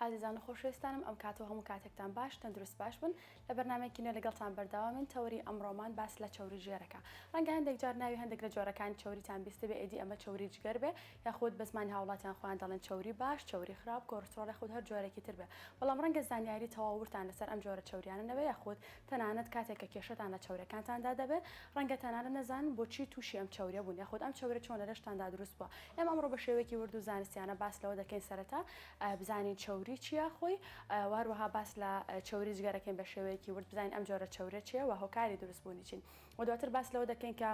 ئازیزان و خۆشەویستانم ئەم کاتەو هەموو کاتێکتان باش تەندروست باش بن لە بەرنامەیەکی نوێ لەگەڵتان بەردەوامین تەوەری ئەمڕۆمان باس لە چەوری ژێرەکە ڕەنگە هەندێک جار ناوی هەندێک لە جۆرەکانی چەوریتان بیستبێ ئێدی ئەمە چەوری جگەر بێ یاخود بە زمانی هاوڵاتیان خۆیان دەڵێن چەوری باش چەوری خراپ کۆرسترۆڵ یاخود هەر جۆرێکی تر بێ بەڵام ڕەنگە زانیاری تەواو ورتان لەسەر ئەم جۆرە چەوریانە نەبێ یاخود تەنانەت کاتێک کە کێشەتان لە چەورەکانتاندا دەبێت، ڕەنگە تەنانەت نەزانن بۆچی تووشی ئەم چەورە بوون یاخود ئەم چەورە چۆن لە لەشتاندا دروست بووە. ئێمە ئەمڕۆ بە شێوەیەکی ورد و زانستیانە باس لەوە دەکەین سەرەتا بزانین چەوری چییە خۆی و هەروەها باس لە چەوری جگەر دەکەین بە شێوەیەکی ورد بزانین ئەم جۆرە چەورە چییە و هۆکاری دروست بوونی چین و دواتر باس لەوە دەکەین کە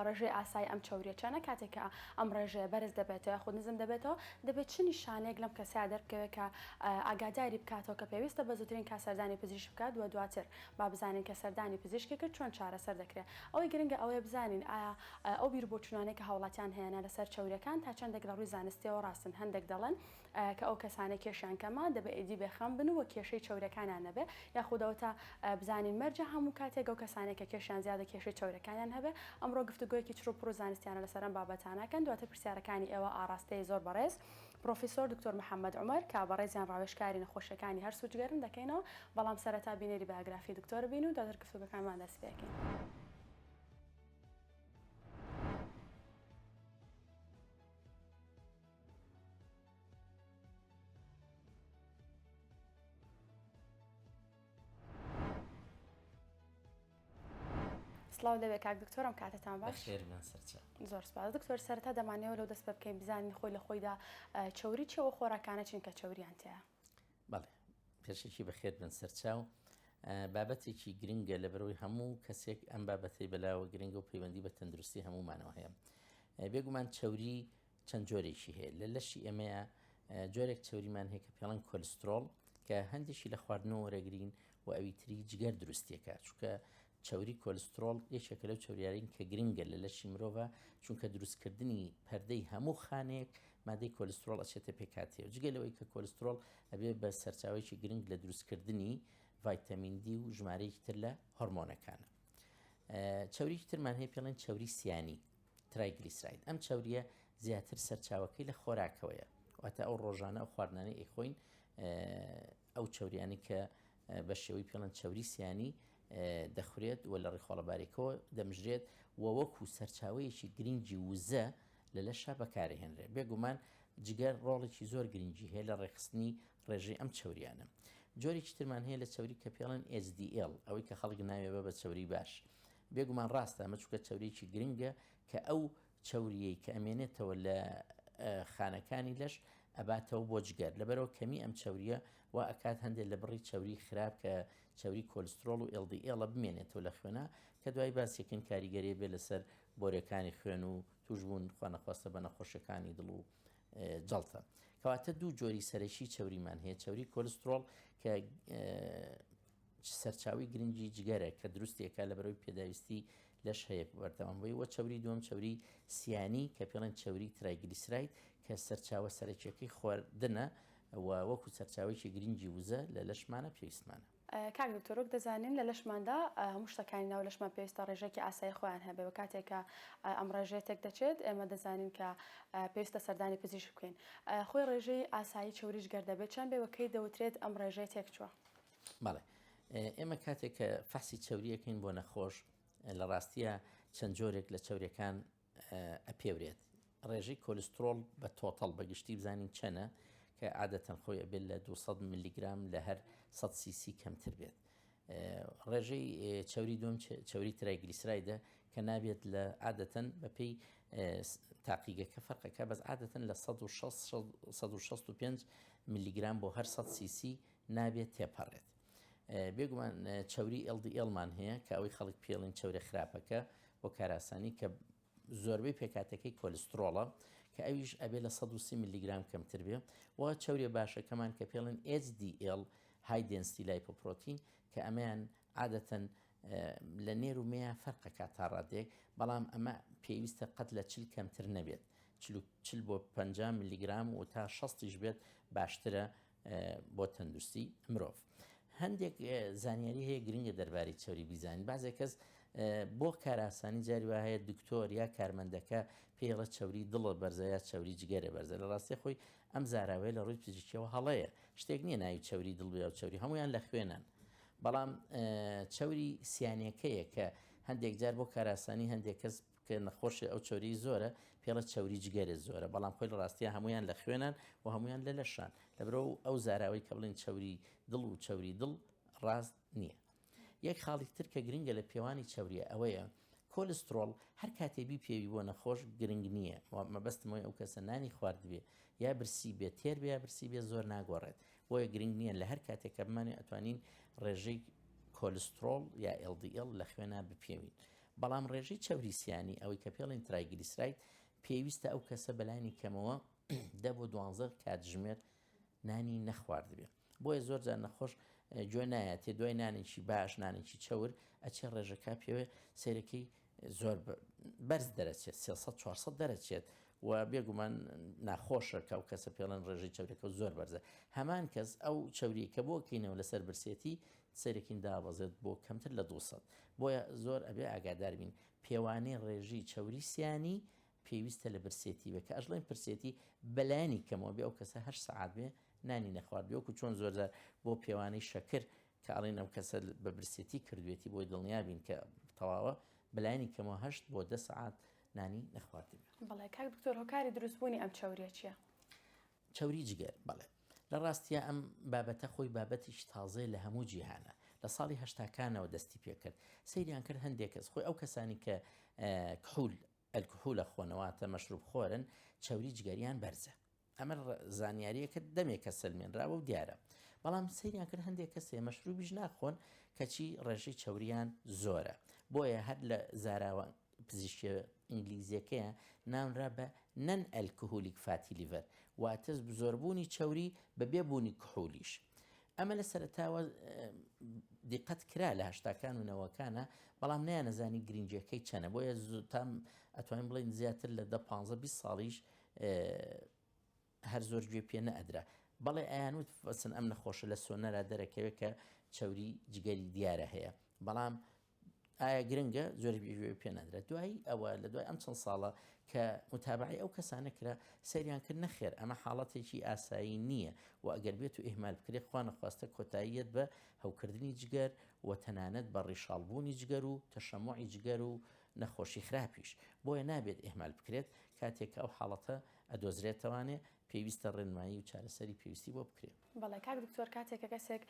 ڕێژەی ئاسایی ئەم چەورییە چەنە؟ کاتێک کە ئەم ڕێژەیە بەرز دەبێتەوە یاخود نزم دەبێتەوە، دەبێت چ نیشانەیەک لەم کەسەیا دەربکەوێت کە ئاگاداری بکاتەوە کە پێویستە بە زووترین کات سەردانی پزیشک بکات و دواتر با بزانین کە سەردانی پزیشکی کرد چۆن چارەسەر دەکرێت. ئەوەی گرنگە ئەوەیە بزانین ئایا ئەو بیروبۆچوونانەی کە هاوڵاتیان هەیەە لەسەر چەورییەکان تا چەندێک لە ڕووی زانستییەوە ڕاستن، هەندێک دەڵێن، کە ئەو کەسانە کێشیان کەمە دەبێ ئیدی بێ خەم بن و وە کێشەی چەورەکانیان نەبێ یاخود ئەوە تا بزانین مەرجە هەموو کاتێک ئەو کەسانەی کە کێشیان زیادە کێشەی چەورەکانیان هەبێ ئەمڕۆ گفتوگۆیەکی چڕ و پڕ و زانستیانە لەسەر ئەم بابەتانە کەن دواتر پرسیارەکانی ئێوە ئاڕاستەی زۆر بەڕێز پڕۆفیسۆر دکتۆر محەمەد عومەر کە بەڕێزیان ڕاوێژکاری نەخۆشیەکانی هەرس و جگەرن دەکەینەوە بەڵام سەرەتا بینەری بایۆگرافی دکتۆر بین و دواتر گفتوگۆکانمان دەست پێ کەین. سلااو لەوێ کاک دکتۆرم کاتتان باش زۆر سپاس دکتۆر سەرتا دەمانەوە لەو دەست بە بکەین بزانین خۆی لە خۆیدا چوری چەوە خۆراکانە چین کە چوریان تەیە بەڵێ پێشێکی بەخێت بن سەرچاو بابەتێکی گرنگە لە بەرەوەی هەموو کەسێک ئەم بابەتەی بەلاوە گرنگە و پەیوەندی بە تەندروستی هەمومانەوە هەیە بێگومان چوری چەند جۆرێکی هەیە لە لەشی ئێمەیە جۆرێک چوریمان هەیە کە پێڵەن کۆلسترۆڵ کە هەندێکی لە خواردنەوە وەرەگرین و ئەوی تری جگەر دروستیەکە چونکە چوری کۆلسترۆڵ یەکێکە لەو چوریارین کە گرنگە لە لەشی مرۆڤە چونکە دروستکردنی پەردەی هەموو خانێک مادەی کۆلسترۆڵ ئەچێتە پێکاتێ و جگە لەوەی کە کۆلسترۆڵ ئەبێ بە سەرچاوێکی گرنگ لە دروستکردنی ڤایتەمیندی و ژمارەیەکی تر لە هۆرمۆنەکانە چوریکی ترمان هەیە پێڵێن چوری سیانی ترایگلیسراید، ئەم چەورییە زیاتر سەرچاوەکەی لە خۆراکەوەیە، واتە ئەو ڕۆژانە ئەو خواردنانەی ئەیخۆین ئەو چەورییانەی کە بە شێوەی پێڵێن چەوری سیانی دەخورێت و لە ڕیخۆڵە باریکەوە دەمژرێت و وەکو سەرچاوەیەکی گرنگی وزە لە لەشا بەکارهێنرێت بێگومان جگەر ڕۆڵێکی زۆر گرنگی هەیە لە ڕێخستنی ڕێژەی ئەم چوریانە جۆرێکی ترمان هەیە لە چوری کە پێڵەن SDL ئەوەی کە خەڵک ناوێ بە بە چوری باش بێگومان ڕاستە ئەمە چونکە چەوریەکی گرنگە کە ئەو چەوریەی کە ئەمێنێتەوە لە خانەکانی لەش ئەباتەوە بۆ جگەر لەبەرەوە کەمی ئەم چەوریە و ئەکات هەندێک لە بڕی چەوری خراپ کە چەوری کۆلسترۆڵ و ئێڵدی ئێڵە بمێنێتەوە لە خوێنە کە دوای باسیکن کاریگەری بێ لەسەر بۆرەکانی خوێن و توشبوون خوانەخواستە بە نەخۆشەکانی دڵ و جڵتە کەواتە دوو جۆری سەرەکی چەوریمان هەیە چەوری کۆلسترۆڵ کە سەرچاوەی گرنگی جگەرە کە دروستێکە لە بەرەوەی پێداویستی لەش هەیە بەردەوام بووی وە چەوری دووەم چەوری سیانی کە پێڵێن چەوری ترایگلیسراید کە سەرچاوە سەرەکیەکەی خواردنە و وەکو سەرچاوێکی گرنگی وزە لە لەشمانە پێویستمانە. کاک دکتۆر وەک دەزانین لە لەشماندا هەموو شتەکانی ناو لەشمان پێویستە ڕێژەیەکی ئاسایی خۆیان هەبێ وە کاتێک کە ئەم ڕێژەیە تێک دەچێت ئێمە دەزانین کە پێویستە سەردانی پزیشک بکەین خۆی ڕێژەی ئاسایی چەوری جگەر دەبێت چەند بێ وە کەی دەوترێت ئەم ڕێژەیە تێک چووە؟ بەڵێ ئێمە کاتێک کە فەحسی چوریەکەین بۆ نەخۆش لە ڕاستیە چەند جۆرێک لە چورەکان ئەپێورێت ڕێژەی کۆلسترۆل بە تۆتەڵ بەگشتی بزانین چەنە کە عادەتەن خۆی ئەبێت لە 200 میلیگرام لە هەر 100 سیسی کەمتر بێت. ڕێژەی چوری دوم چوری ترای گلیسرایدە کە نابێت لە عادەتەن بەپی تاقیگەکە فەرقەکە بەس عادەتەن لە 1665 میلیگرام بۆ هەر 100 سیسی نابێت تێپەڕێت. بێگومان چەوری LDL مان هەیە کە ئەوەی خەڵک پێڵین چەورە خراپەکە بۆ کاراسانی کە زۆربەی پێکاتەکەی کۆلسترۆڵە کە ئەویش ئەبێ لە 130 میلیگرام کەمتر بێ و چەورێ باشەکەمان کە پێڵێن HDL های دنستی لایپۆپرۆتین کە ئەمەیان عادەتەن لە نێر و مێە فەرقەکە تا ڕادێک بەڵام ئەمە پێویستە قەت لە چل کەمتر نەبێت چل بۆ 50 میلیگرام و تا 16 بێت باشترە بۆ تەندروستی مرۆڤ هەندێک زانیاری هەیە گرنگە دەرباری چوری بیزانین بازێک کەس بۆ کاراسانی جاری وە هەیە دکتۆر یا کارمەندەکە پێڵە چوری دڵە بەرزە یا چوری جگەرە بەرزە لە ڕاستی خۆی ئەم زاراوەیە لە ڕووی پزیشکەوە هەڵەیە شتێک نییە ناوی چوری دڵ بێ و چوری هەمویان لە خوێنن بەڵام چوری سیانەکەیە کە هەندێک جار بۆ کاراسانی هەندێک کەس کە نەخۆشێ ئەو چەوریی زۆرە پێڵە چەوری جگەرێ زۆرە بەڵام خۆی لە ڕاستیە هەمویان لە خوێنان و هەمویان لە لەشان لەبرۆ ئەو زاراوەی کە بڵین چەوری دڵ و چەوری دڵ ڕاست نییە. یەک خاڵی تر کە گرنگە لە پێوانی چەوریە ئەوەیە کۆلسترۆڵ هەر کاتێ بی پێوی بۆ نەخۆش گرنگ نییە مەبەستمەوەی ئەو کەسە نانی خواردبێ یا برسی بێ تێر بێ برسی بێ زۆر ناگۆڕێت بۆیە گرنگ نییە لە هەر کاتێک کە بمانێ ئەتوانین ڕێژەی کۆلسترۆڵ یا LDL لە خوێنا بپێوین بەڵام ڕێژەی چەوری سیانی، ئەوەی کە پێڵێن ترایگلیسراید، پێویستە ئەو کەسە بە لانی کەمەوە دە بۆ دوانزە کاتژمێر نانی نەخواردبێ. بۆیە زۆر جار نەخۆش گوێ نایەتێ دوای نانێکی باش، نانێکی چەور ئەچێ ڕێژەکە پێوێ سەیرەکەی زۆر بەرز دەرەچێت سێ سەد چوار سەد دەرەچێت و بێگومان ناخۆشە کە ئەو کەسە پێڵێن ڕێژەی چەورەکە و زۆر بەرزە. هەمان کەس ئەو چەوریی کە بۆکەینەوە لەسەر برسێتی سەیرەکین دابەزێت بۆ کەمتر لە دوو سەد، بۆیە زۆر ئەبێ ئاگادار بین. پێوانەی ڕێژەی چەوری سیانی پێویستە لە برسێتی بێ، کە ئەشڵێین برسێتی بە لایەنی کەمەوە بێ، ئەو کەسە هەشت سەعات بێ نانی نەخوارد بێ، وەکو چۆن زۆرجار بۆ پێوانەی شەکر کە ئەڵێن ئەم کەسە بە برسێتی کردوێتی بۆی دڵنیا بین کە تەواوە، بە لایەنی کەمەوە هەشت بۆ دە سەعات نانی نەخواردبێ. بەڵێ کاک دکتۆر هۆکاری دروست بوونی ئەم چەوریە چیە؟ چەوری جگەر، بەڵێ. لە ڕاستیا ئەم بابەتە خۆی بابەتێکی تازەیە لە هەموو جیهانا. لە ساڵی هەشتاکانەوە دەستی پێ کرد. سەیریان کرد هەندێک کەس، خۆی ئەو کەسانەی کە کحول، الکحول، ئەخۆن، واتە مەشروب خۆرن، چەوری جگەریان بەرزە. ئەمە زانیارییەکە دەمێکە سەلمێنراوە و دیارە. بەڵام سەیریان کرد هەندێک کەس هەیە مەشروبیش ناخۆن، کەچی ڕێژەی چەوریان زۆرە. بۆیە هەر لە زاراوە پزیشکە ئینگلیزیەکەیە ناونرا بە Non-Alcoholic Fatty Liver واتە زۆربوونی چەوری بە بێ بوونی کحولیش. ئەمە لە سەرەتاوە دیقەت کرا لە هەشتاکان و نەوەکانە بەڵام نیانەزانی گرنگیەکەی چەنە بۆیە زوتام ئەتوانین بڵین زیاتر لە دە 15 20 ساڵیش هەر زۆر گوێ پێ نەئەدرا بەڵێ ئەیان وت فەسن ئەم نەخۆشە لە سۆنەرا دەرەکەوێت کە چەوری جگەری دیارە هەیە بەڵام ئایا گرنگە زۆر بێژێ پێ نادرێت دوایی ئەوە لە دوای ئەم چەند ساڵە کە متابعی ئەو کەسانە کرا سەریان کرد نەخێر ئەمە حاڵەتێکی ئاسایی نییە و ئەگەر بێت و ئهمال بکرێت خوا نەخواستە کۆتاییەت بە هەوکردنی جگەر و تەنانەت بە ڕیشاڵبوونی جگەر و تەشەمۆعی جگەر و نەخۆشی خراپیش بۆیە نابێت ئهمال بکرێت کاتێک ئەو حاڵەتە ئەدۆزرێتەوانێ پێویستە ڕێنمایی و چارەسەری پێویستی بۆ بکرێت بەڵێ کاک دکتۆر کاتێک کە کەسێک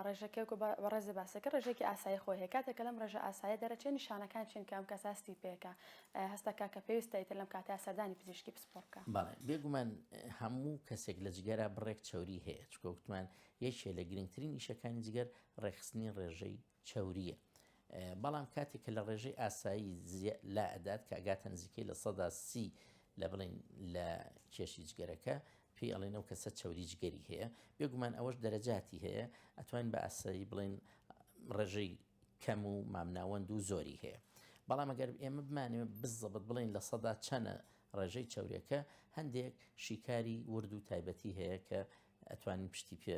ڕێژەکە وکو بەڕێزە باسەکە ڕێژێکی ئاسایی خۆی هەیە کاتێک کە لەم ڕێژە ئاسایە دەرەچێ نیشانەکان چین کە ئەم کەسە هەستی پێکە هەستەکە کە پێویستە ئیتر لەم کاتە سەردانی پزیشکی پسپۆڕ بکە. بەڵێ بێگومان هەموو کەسێک لە جگەرا بڕێک چەوری هەیە چونکە وتمان یەکێ لە گرنگترین ئیشەکانی جگەر ڕێکخستنی ڕێژەی چەورییە بەڵام کاتێک کە لە ڕێژەی ئاسایی لا ئەدات کە ئەگاتە نزیکەی لە سەدا سی لە بڵین لە کێشی جگەرەکە پێی ئەڵێن و کەسە چەوری جگەری هەیە بێگومان ئەوەش دەرەجاتی هەیە ئەتوانین بە ئاسایی بڵێن ڕێژەی کەم و مامناوەند و زۆری هەیە بەڵام ئەگەر ئێمە بمانێ بزەبت بڵین لە سەدا چەنە ڕێژەی چاورەکە هەندێک شیکاری ورد و تایبەتی هەیە کە ئەتوانین پشتی پێ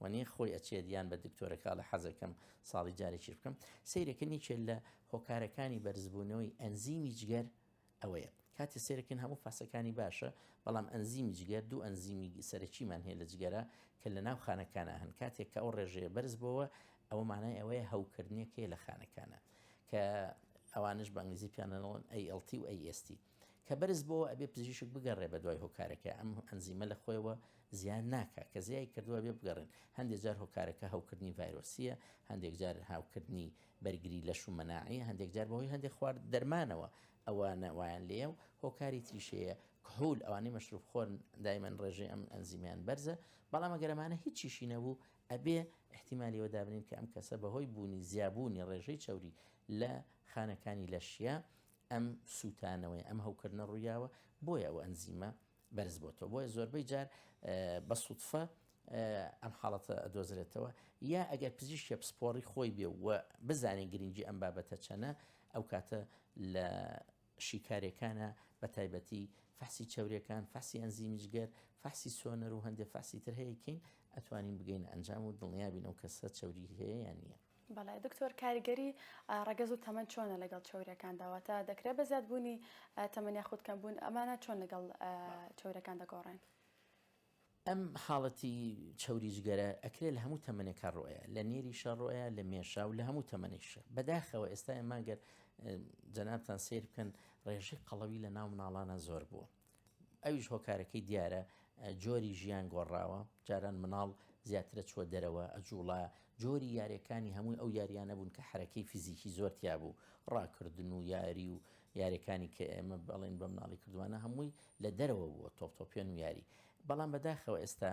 و نی خۆی ئەچێت یان بە دکتۆرە کاڵە حەزەکەم ساڵی جارێکیش بکەم سیرەکە نیچێت لە هۆکارەکانی بەرزبوونەوەی ئەنزیمی جگەر ئەوەیە کاتی سێرەکەن هەموو فاسەکانی باشە بەڵام ئەنزیمی جگەر دوو ئەنزیمی سەرەکیمان هەیە لە جگەرە کە لە ناو خانەکانە هەن کاتێک کە ئەو ڕێژەیە بەرز بۆەوە ئەوە مانای ئەوەیە هەوکردنێکەیە لە خانەکانە کە ئەوانش بەنگلیزی پیانەوەن ئەیLT و ئەیST کە بەرز بۆوە ئەبێ پزیشک بگەڕێ بە دوای هۆکارەکە ئەم ئەنزیمە لە خۆیەوە زیان ناکە کە زیای کردووە بێ بگەڕێن هەندێک جار هۆکارەکە هەوکردنی ڤایرۆسیە هەندێک جار هاوکردنی بەرگری لە شومەناعی هەندێک جار بەهۆی هەندێک خوارد دەرمانەوە ئەوانە وایان لێە و هۆکاری تریشەیە کهول ئەوانی مەشروف خۆن دایمەن ڕێژێ ئەم ئەنزیمیان بەرزە بەڵام گەرمانە هیچیشی نەبوو ئەبێ احتیممالیەوە دابنین کە ئەم کەسە بەهۆی بوونی زیابوونی ڕێژەی چوری لە خانەکانی لەشیە ئەم سووتانەوەی ئەم هەوکردنە ڕوویاوە بۆیە ئەو ئەنزیمە بەرز بۆتەوە بۆیە زۆربەی جار بە سوودفە ئەم حاڵەتە دۆزرێتەوە یا ئەگەر پزیشکە پسپۆڕی خۆی بێ و بزانین گرنگی ئەم بابەتە چەنە ئەو کاتە لە شیکارێکانە بە تایبەتی فەحسی چاورەکان فەحسی ئەنزیمیجگەر فەحسی سۆنەر و هەندێک فەحسی تر هەیەکەین ئەتوانین بگەین ئەنجام و دڵنیابین ئەو کەسە چوری هەیە یان نییە بەڵێ دکتۆر کاریگەری ڕەگەز و تەمەەن چۆنە لەگەڵ چۆریەکان داواتە دەکرێت بە زیاد بوونی تەمەنیا خودکەم بوون ئەمانە چۆن لەگەڵ چۆرەکان دەگۆڕێن. ئەم حاڵەتی چوری جگەرە ئەکرێت لە هەموو تەمەێکە ڕۆیە لە نێری شەڕۆیە لە مێشا و لە هەموو تەمەێشە بەداخەوە ئێستا ئەمانگەر جەنابان سیر بکەن ڕێژەی قەڵەوی لە ناو مناڵانە زۆر بووە ئەویش هۆکارەکەی دیارە جۆری ژیان گۆڕاوە جاران مناڵ زیاترە چووە دەرەوە ئەجوڵا جۆری یاریەکانی هەمووی ئەو یاریانە بوون کە حرەکەی فیزیکی زۆر تیا بوو ڕاکردن و یاری و یاریەکانی کە ئێمە بەڵێن بە مناڵی کردوانە هەمووی لە دەرەوە بووە تۆپتۆپێن و یاری بەڵام بەداخەوە ئێستا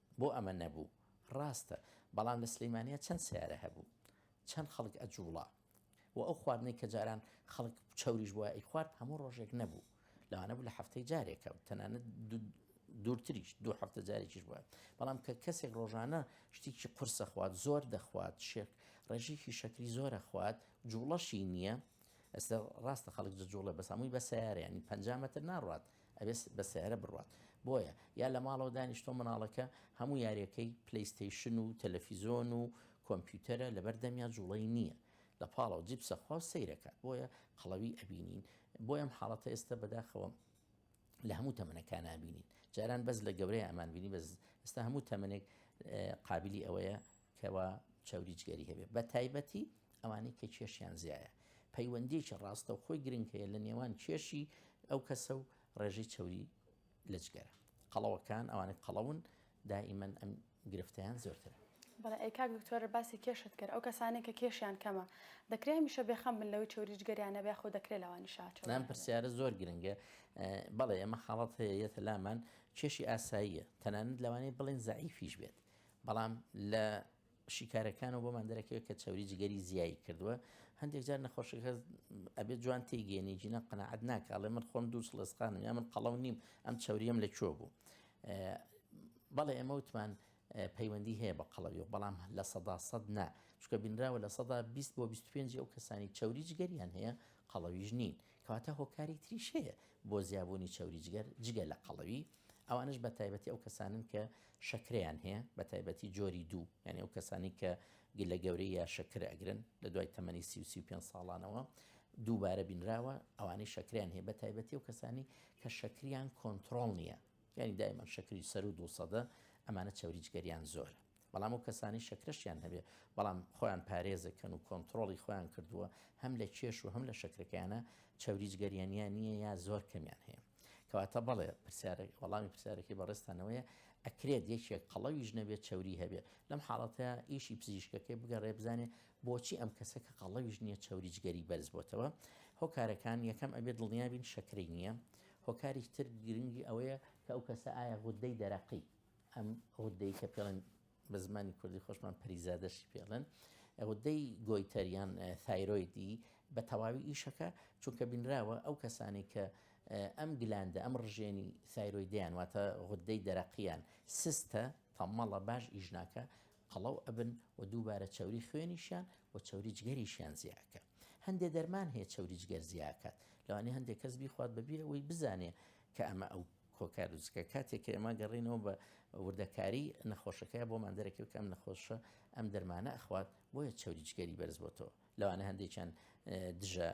بۆ ئەمە نەبوو ڕاستە بەڵام لە سلیمانیە چەند سیارە هەبوو چەند خەڵک ئەجوڵا و ئەو خواردنەی کە جاران خەڵک چوریش بووە ئەی خوارد هەموو ڕۆژێک نەبوو لەوانە بوو لە هەفتەی جارێکە و تەنانەت دوورتریش دوو هەفتە جارێکیش بووە بەڵام کە کەسێک ڕۆژانە شتێکی قرسە خوات زۆر دەخوات شێک ڕێژێکی شەکری زۆرە خوات جوڵەشی نییە ئەستا ڕاستە خەڵک جوڵە بەسامووی بە سیارە ینی پ مەتر ناڕات ئەبێت بە سەیارە بڕوات بۆیە یا لە ماڵەوە دانیشتۆ منداڵەکە هەموو یاریەکەی پلەیستەیشن و تەلەفیزۆن و کۆمپیوتەرە لەبەر دەمیا جوڵەی نییە لە پاڵەوە جیپسە خوا و سەیرەکات بۆیە قەڵەوی ئەبینین بۆ ئەم حاڵەتە ئێستا بەداخەوە لە هەموو تەمەنەکان نبینین جاران بەس لە گەورەی ئەمان بینی بەس ئستا هەموو تەمەێک قابلی ئەوەیە کەوا چەوری جگەری هەبێت بە تایبەتی ئەوانەی کە کێشیان زیایە پەیوەندیکی ڕاستەوخۆی گرنگ هەیە لە نێوان کێشی ئەو کەسە و ڕێژەی چەوری لە جگەرە قەڵەوەکان ئەوانەی قەڵەون دائیمەن ئەم گرفتیان زۆرترە بەڵێ ئەی کاک دکتۆر باسی کێشت کرد ئەو کەسانی کە کێشیان کەمە دەکرێ هەمیشە بێخەم بن لەوەی چوریج گەریانە بێ خۆ دەکرێت لەوانی شاچ نام پرسیارە زۆر گرنگە بەڵێ ئەمە خاڵەت هەیە یەتە لامان کێشی ئاساییە تەنانەت لەوانەیە بڵێن زعیفیش بێت بەڵام لە شیکارەکانەوە بۆمان دەرەکەوێت کە چەوری جگەری زیایی کردووە هەندێک جار نەخۆشەکە ئەبێت جوان تێگەێنی جینە قەنەعات ناکڵێ من خۆم دوو سڵێسقانم یا من قەڵەو نیم ئەم چاوریەم لە کوێ بوو بەڵێ ئێمە وتمان پەیوەندی هەیە بە قەڵەوی و بەڵام لە سەدا سەد نا چکە بینراوە لە سەدا 20 بۆ 25 ئەو کەسانی چاوری جگەریان هەیە قەڵەویش نین کەواتە هۆکاری تریش هەیە بۆ زیابوونی چاوری جگەر جگە لە قەڵەوی ئەوانەش بە تایبەتی ئەو کەسانن کە شەکرەیان هەیە بە تایبەتی جۆری دوو یعنی ئەو کەسانی کە گلە گەورەی یا شەکر ئەگرن لە دوای تەمەنی سی سی پێ ساڵانەوە دووبارە بینراوە ئەوانەی شەکریان هەیە بە تایبەتی و کەسانی کە شەکریان کۆنتترۆل نییە یعنی دایمە شەکری سەر و دووسەدە ئەمانە چاوریجگەریان زۆرە بەڵام ئەو کەسانەی شەکرەشیان هەبێت بەڵام خۆیان پارێزەکەن و کۆنتترۆڵی خۆیان کردووە هەم لە کێش و هەم لە شەکرەکەیانە چاوریج گەریانیان نییە یا زۆر کەمیان هەیە کەواتە بەڵێ پرسیارێک وەڵامی پرسیارەکەی بەڕێستانەوەیە ئەکرێت یەکێک قەڵەویش نەبێت چوری هەبێت لەم حاڵەتە ئیشی پزیشکەکەی بگەڕێ بزانێ بۆچی ئەم کەسە کە قەڵەویش نییە چوریجگەری بەرز بۆتەوە هۆکارەکان یەکەم ئەبێت دڵنیابین شەکرەی نییە هۆکاری تر گرنگی ئەوەیە کە ئەو کەسە ئایا غودەی دەرەقی ئەم غودەی کە پێڵێن بە زمانی کوردی خۆشمان پەریزادەشی پێڵێن غودەی گۆیتەریان تایرۆیدی بە تەواوی ئیشەکە چونکە بینراوە ئەو کەسانی کە ئەم گلاندە ئەم ڕژێنی سایرۆیدیان واتە غودەی دەرەقیان سستە تەمەڵە باش ئیژناکە قەڵەو ئەبن و دووبارە چوری خوێنیشیان و چوری جگەریشیان زیاکە هەندێک دەرمان هەیە چوری جگەر زیاکات لەوانی هەندێک کەس بیخوات بەبیرەوەی بزانێ کە ئەمە ئەو کۆکارزگە کاتێک کە ئێمە گەڕێنەوە بە وردەکاری نەخۆشەکەی بۆمان دەرەکەوت کەم نەخۆشە ئەم دەرمانە ئەخوات بۆیە چەوری جگەری بەرز بۆتەوە لەوانە هەندێکیان دژە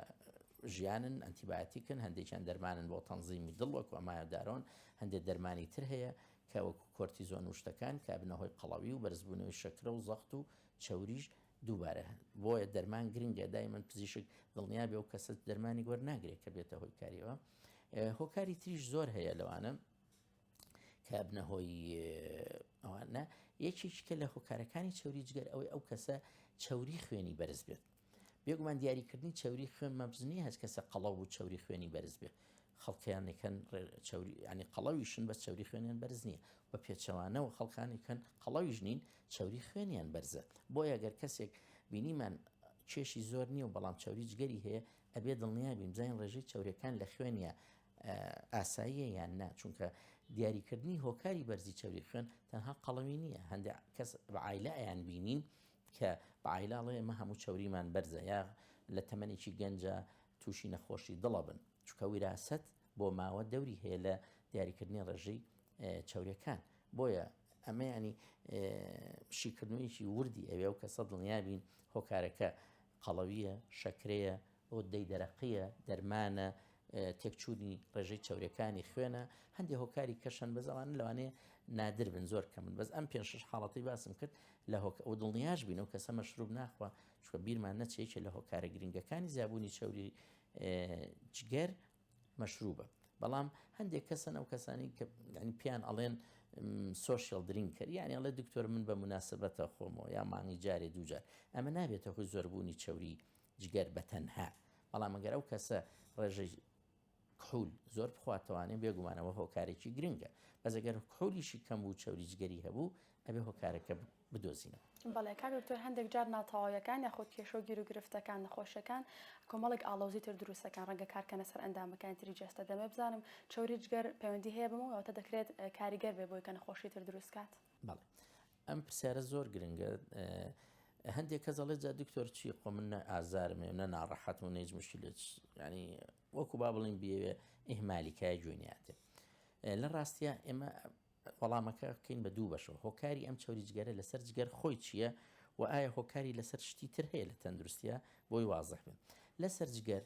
ژیانن ئەتیباتیکن هەندێکیان دەرمانن بۆ تەنزیمی دڵ وەکو ئەمایدارۆن هەندێک دەرمانی تر هەیە کە وەکو کۆرتیزۆن وشتەکان کابنەهۆی قەڵەوی و بەرزبوونەوەی شەکرە و زەخت و چەوریش دووبارە هەن بۆیە دەرمان گرنگە دایمەن پزیشک دڵنیابێ و کەسە دەرمانی گۆر ناگرێت کە بێتە هۆی کاریەوە هۆکاری تریش زۆر هەیە لەوانە کە بنە هۆی ئەوانە یەکێکیکە لە هۆکارەکانی چوری جگەر ئەوەی ئەو کەسە چوری خوێنی بەرز بێت بێگومان دیاریکردنی چوری خوێن مەبزنی هەست کەسە قەڵەو و چوری خوێنی بەرز بێت خەڵکیان ئەکەن چەوری ینی قەڵەویشن بە چەوری خوێنیان بەرز نییە بە پێچەوانەوە خەڵکانی کەن قەڵەویش نین چەوری خوێنیان بەرزە بۆ یەگەر کەسێک بینیمان کێشی زۆر نییە و بەڵام چاوری جگەری هەیە ئەبێ دڵنیا بین بزانین ڕێژەی چاورەکان لە خوێنە ئاساییە یان نا چونکە دیاریکردنی هۆکاری بەرزی چاوری خوێن تەنها قەڵەوی نییە هەندێک کەس بەعاایلە ئەیان بینین کە بە عایلە ئەڵێ ئێمە هەموو چەوریمان بەرزە یا لە تەمەنێکی گەنجا تووشی نەخۆشی دڵ ئەبن، چونکە ویراسەت بۆ ماوە دەوری هەیە لە دیاریکردنی ڕێژەی چەوریەکان، بۆیە ئەمە یانی شیکردنوویەکی وردی ئەوێ و کەسە دڵنیابین هۆکارەکە قەڵەویە، شەکرەیە، غدەی دەرەقییە، دەرمانە، تێکچوونی ڕێژەی چەوریەکانی خوێنە، هەندێ هۆکاری کەش هەن بەس ئەوانە لەوانەیە نادر بن زۆر کەمن بەس ئەم پێنج شەش حاڵەتەی باسم کرد لە هۆکە و دڵنیاش بین و کەسە مەشروب ناخوا چوە بیرمان نەچێکێ لە هۆکارە گرنگەکانی زیابوونی چەوری جگەر مەشروبە بەڵام هەندێک کەسن ئەو کەسانی کە ینی پیان ئەڵێن سوسیال درینکەر یعنی ئەڵێ دکتۆر من بە مناسبەتە خۆمەوە یا مانگی جارێ دوجار ئەمە نابێتە خۆی زۆربوونی چەوری جگەر بە تەنها، بەڵام ئەگەر ئەو کەسە ڕێژەی کحول زۆر بخواتەوانێ بێگومان ئەوە هۆکارێکی گرنگە، بەس ئەگەر کحولیشی کەم بوو چەوری جگەری هەبوو ئەبێ هۆکارەکە بدۆزینەوە. بەڵێ کاک دکتۆر هەندێک جار ناتەواویەکان یاخود کێشە و گیر و گرفتەکان نەخۆشیەکان کۆمەڵێک ئاڵۆزی تر دروست دەکەن ڕەنگە کار کەنە سەر ئەندامەکانی تری جەستە دەمەوێ بزانم چەوری جگەر پەیوەندی هەیە بەمەوە واتە دەکرێت کاریگەر بێ بۆی کە نەخۆشی تر دروست کات؟ بەڵێ ئەم پرسیارە زۆر گرنگە هەندێک کەس دەڵێت جا دکتۆر چی خۆ من نە ئازارم هەیە نە ناڕەحەت و نەیج مشکلت ینی وەکو با بڵین بێوێ ئیهمالیکای جوێنیاتێ لە ڕاستە ئێمە وەڵامەکە بکەین بە دوو بەشەوە هۆکاری ئەم چوری جگەرە لەسەر جگەر خۆی چییە و ئایا هۆکاری لەسەر شتی تر هەیە لە تەندروستە بۆی وازح بێت لەسەر جگەر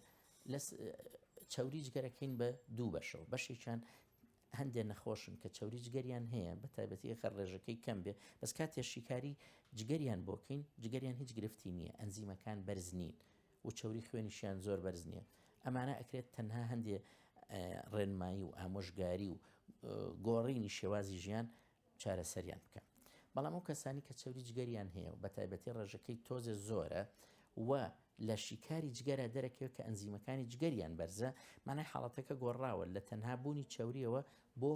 چوری جگەرەکەین بە دوو بەشەوە بەشێکیان هەندێ نەخۆشن کە چەوری جگەریان هەیە بە تایبەتی ئەگەر ڕێژەکەی کەم بێ بەس کاتێ شیکاری جگەریان بۆ کەین جگەریان هیچ گرفتی نییە ئەنزیمەکان بەرز نین و چەوری خوێنیشیان زۆر بەرز نییە ئەمانە ئەکرێت تەنها هەندێ ڕێنمایی و ئامۆژگاری و گۆڕینی شێوازی ژیان چارەسەریان بکەن بەڵام ئەو کەسانی کە چەوری جگەریان هەیە و بە تایبەتی ڕێژەکەی تۆزێ زۆرە و لە شیکاری جگەرە دەرەکەوێت کە ئەنزیمەکانی جگەریان بەرزە مانای حاڵەتەکە گۆڕاوە لە تەنها بوونی چاوریەوە بۆ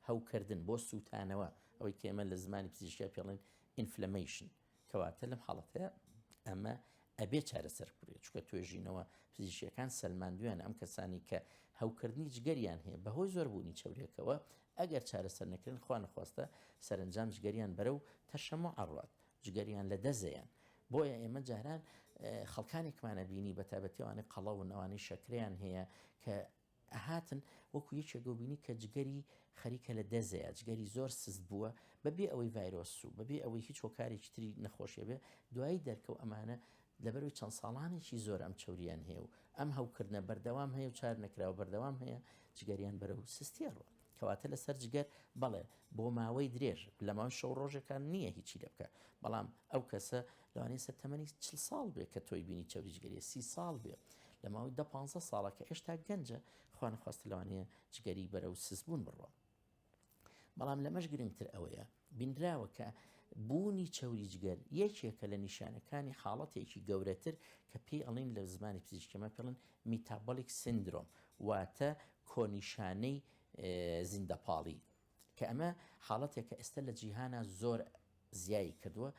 هەوکردن بۆ سووتانەوە ئەوەی کێمە لە زمانی پزیشکیا پێڵێن ئینفلەمیشن کەواتە لەم حاڵەتەیە ئەمە ئەبێ چارەسەر بکرێت چکە توێژینەوە پزیشیەکان سلماندویان ئەم کەسانی کە هەوکردنی جگەریان هەیە بەهۆی زۆربوونی چورێکەوە ئەگەر چارەسەر نەکردن خوانەخواستە سەرنجام جگەریان بەرە و تەشەمە ئەڕات جگەریان لە دەزەیان بۆیە ئێمە جاران خەڵکانێکمانە بینی بە تابەتێوانی قەڵە و نەوانی شەکریان هەیە کە ئەهاتن وەکو یەکێک ئەوبینی کە جگەری خەریکە لە دەزێ جگەری زۆر سست بووە بەبێ ئەوەی ڤایرۆس و بەبێ ئەوەی هیچ هۆکارێکی تری نەخۆشیە بێ دوایی دەرکەو ئەمانە لەبەروی چەند ساڵانێکی زۆر ئەم چوریان هەیە و ئەم هەوکردنە بەردەوام هەیە و چار نەکراوە بەردەوام هەیە جگەریان بەرەو سستی ئەڕوات. کەواتە لەسەر جگەر بەڵێ بۆ ماوەی درێژ لەماوەی شەو ڕۆژێکان نییە هیچی لێ بکە بەڵام ئەو کەسە لەوانەیە سەر تەمەنی چل ساڵ بێ کە تۆی بینی چەوری جگەری سی ساڵ بێ لە ماوەی دە پ ساڵە کە ئێشتا گەنجە خوانخواست لەوانەیە جگەری بەرە و سزبوون بڕوە بەڵام لەمەش گرنگتر ئەوەیە بینراوە کە بوونی چەوری جگەر یەکێکە لە نیشانەکانی حاڵەتێکی گەورەتر کە پێی ئەڵێن لە زمانی پزیشکیمە پێڵن میتابۆلیک سندرۆم واتە کۆنیشانەی زیندەپاڵی کە ئەمە حاڵەتێکە ئێستا لە جیهانا زۆر زیایی کردووە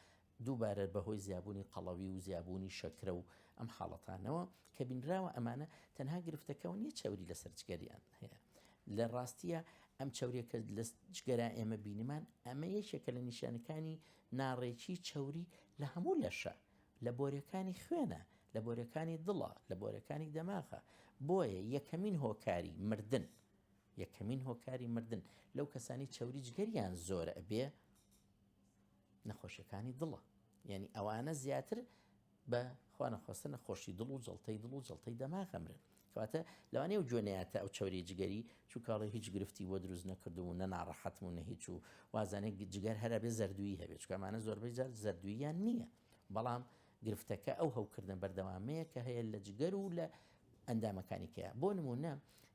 دووبارە بەهۆی زیابوونی قەڵەوی و زیابوونی شەکرە و ئەم حاڵەتانەوە کە بینراوە ئەمانە تەنها گرفتەکەەوە نیە چەوری لەسەر جگەریان هەیە لە ڕاستیە ئەم چاوریەکە لە جگەرا ئێمە بینمان ئەمە یەکێکە لە نیشانەکانی ناڕێکی چەوری لە هەموو لەشە لە بۆرەکانی خوێنە لە بۆرەکانی دڵە لە بۆرەکانی دەماغە بۆیە یەکەمین هۆکاری مردن یەکەمین هۆکاری مردن لەو کەسانی چەوری جگەریان زۆرە ئەبێ نەخۆشیەکانی دڵە یعنی ئەوانە زیاتر بە خوانەخواستە نەخۆشی دڵ و جڵتەی دڵ و جڵتەی دەماغەمرن کەواتە لەوانێ و جوێنەیاتە ئەو چوری جگەری چووکڵی هیچ گرفتی بۆ دروست نەکردو و نەناڕەحەتم و نەهیچ و وازانێک جگەر هەرە بێ زەردووی هەبێت چکەمانە زۆربەی جار زەردوویان نییە بەڵام گرفتەکە ئەو هەوکردە بەردەوامەیە کە هەیە لە جگەر و لە ئەندامەکانی کەە بۆ نمونە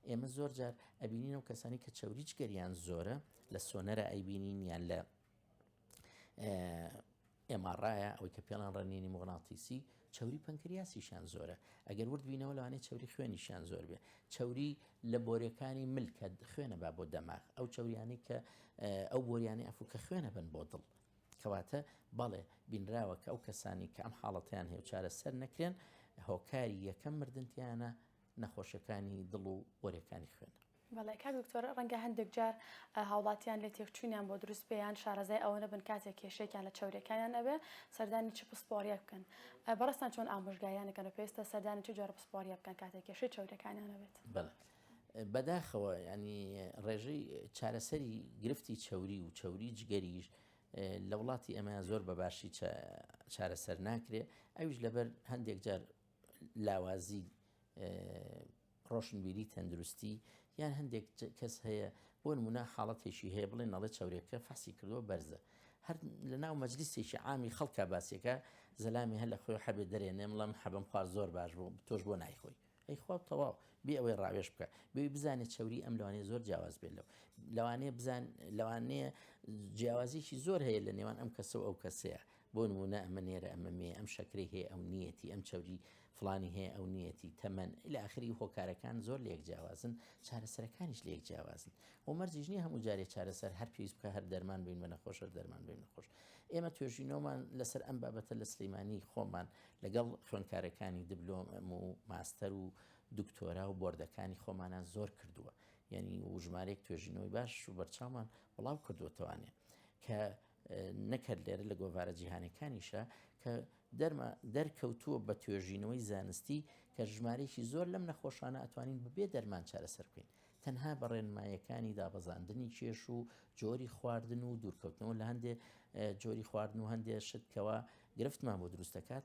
ئێمە زۆر جار ئەبینین و کەسانی کە چوری جگەریان زۆرە لە سۆنەرە ئەیبینین یان لە ئێماڕایە ئەوەی کە پێڵان ڕنینی مۆناتیسی چوری پەنکریاسیشان زۆرە ئەگەر ورد بینەوە لەوانەیە چوری خوێنیشان زۆر بێ چوری لە بۆرەکانی ملکە خوێنە با بۆ دەماغ ئەو چوریانی کە ئەو بۆریانی ئەفو کە خوێنە بن بۆ دڵ کەواتە بەڵێ بینراوە کە ئەو کەسانی کە ئەم حاڵەتیان هەیە چارە سەر نەکرێن هۆکاری یەکەم مردنتیانە نەخۆشەکانی دڵ و بۆرەکانی خوێنە بەڵێ کاک دکتۆر ڕەنگە هەندێک جار هاوڵاتیان لێ تێکچوونیان بۆ دروست بێ یان شارەزای ئەوە نەبن کاتێک کێشەیەکیان لە چەوریەکانیان ئەبێ سەردانی چ پسپۆڕیەک بکەن بەڕێزتان چۆن ئامۆژگاریان دەکەن و پێویستە سەردانی چ جۆرە پسپۆڕیە بکەن کاتێک کێشەی چەوریەکانیان هەبێت؟ بەڵێ بەداخەوە یانی ڕێژەی چارەسەری گرفتی چەوری و چەوری جگەریش لە وڵاتی ئەمە زۆر بە باشی چارەسەر ناکرێ ئەویش لەبەر هەندێک جار لاوازی ڕۆشنبیری تەندروستی یان هەندێک کەس هەیە بۆ نمونە حاڵەتێکی هەیە بڵێ نەڵێ چاورێکە فەحسی کردووە بەرزە هەر لە ناو مەجلیسێکی عامی خەڵکە باسیەکە زەلامی هەر لە خۆی حەبێ دەرێنێ مڵم حەبم خوارد زۆر باش بوو تۆش بۆ نایخۆی ئەی خوا تەواو بێ ئەوەی ڕاوێش بکە بێ بزانێت چوری ئەم لەوانەیە زۆر جیاواز بێت لەو لەوانەیە بزان لەوانەیە جیاوازیکی زۆر هەیە لە نێوان ئەم کەسە و ئەو کەسەیە بۆ نموونە ئەمە نێرە ئەمە مێ، ئەم شەکرەی هەیە ئەو نییەتی، ئەم چەوری فڵانی هەیە ئەو نییەتی، تەمەن الی ئاخری هۆکارەکان زۆر لەیەک جیاوازن، چارەسەرەکانیش لەیەک جیاوازن و مەرجیش نییە هەموو جارێ چارەسەر هەر پێویست بکات هەر دەرمان بین بە نەخۆش هەر دەرمان بین نەخۆش. ئێمە توێژینەوەمان لەسەر ئەم بابەتە لە سلێمانی خۆمان لەگەڵ خوێندکارەکانی دبلۆم و ماستەر و دکتۆرا و بۆردەکانی خۆمانان زۆر کردووە یعنی و ژمارەیەک توێژینەوەی باش و بەرچاومان بڵاو کردووەتەوانێ کە نەک هەر لێرە لە گۆڤارە جیهانەکانیشە کە دەرمە دەرکەوتووە بە توێژینەوەی زانستی کە ژمارەیەکی زۆر لەم نەخۆشانە ئەتوانین ببێ دەرمان چارەسەر بکەین تەنها بە ڕێنمایەکانی دابەزاندنی کێش و جۆری خواردن و دوورکەوتنەوە لە هەندێ جۆری خواردن و هەندێ شتکەوە گرفتمان بۆ دروستەکات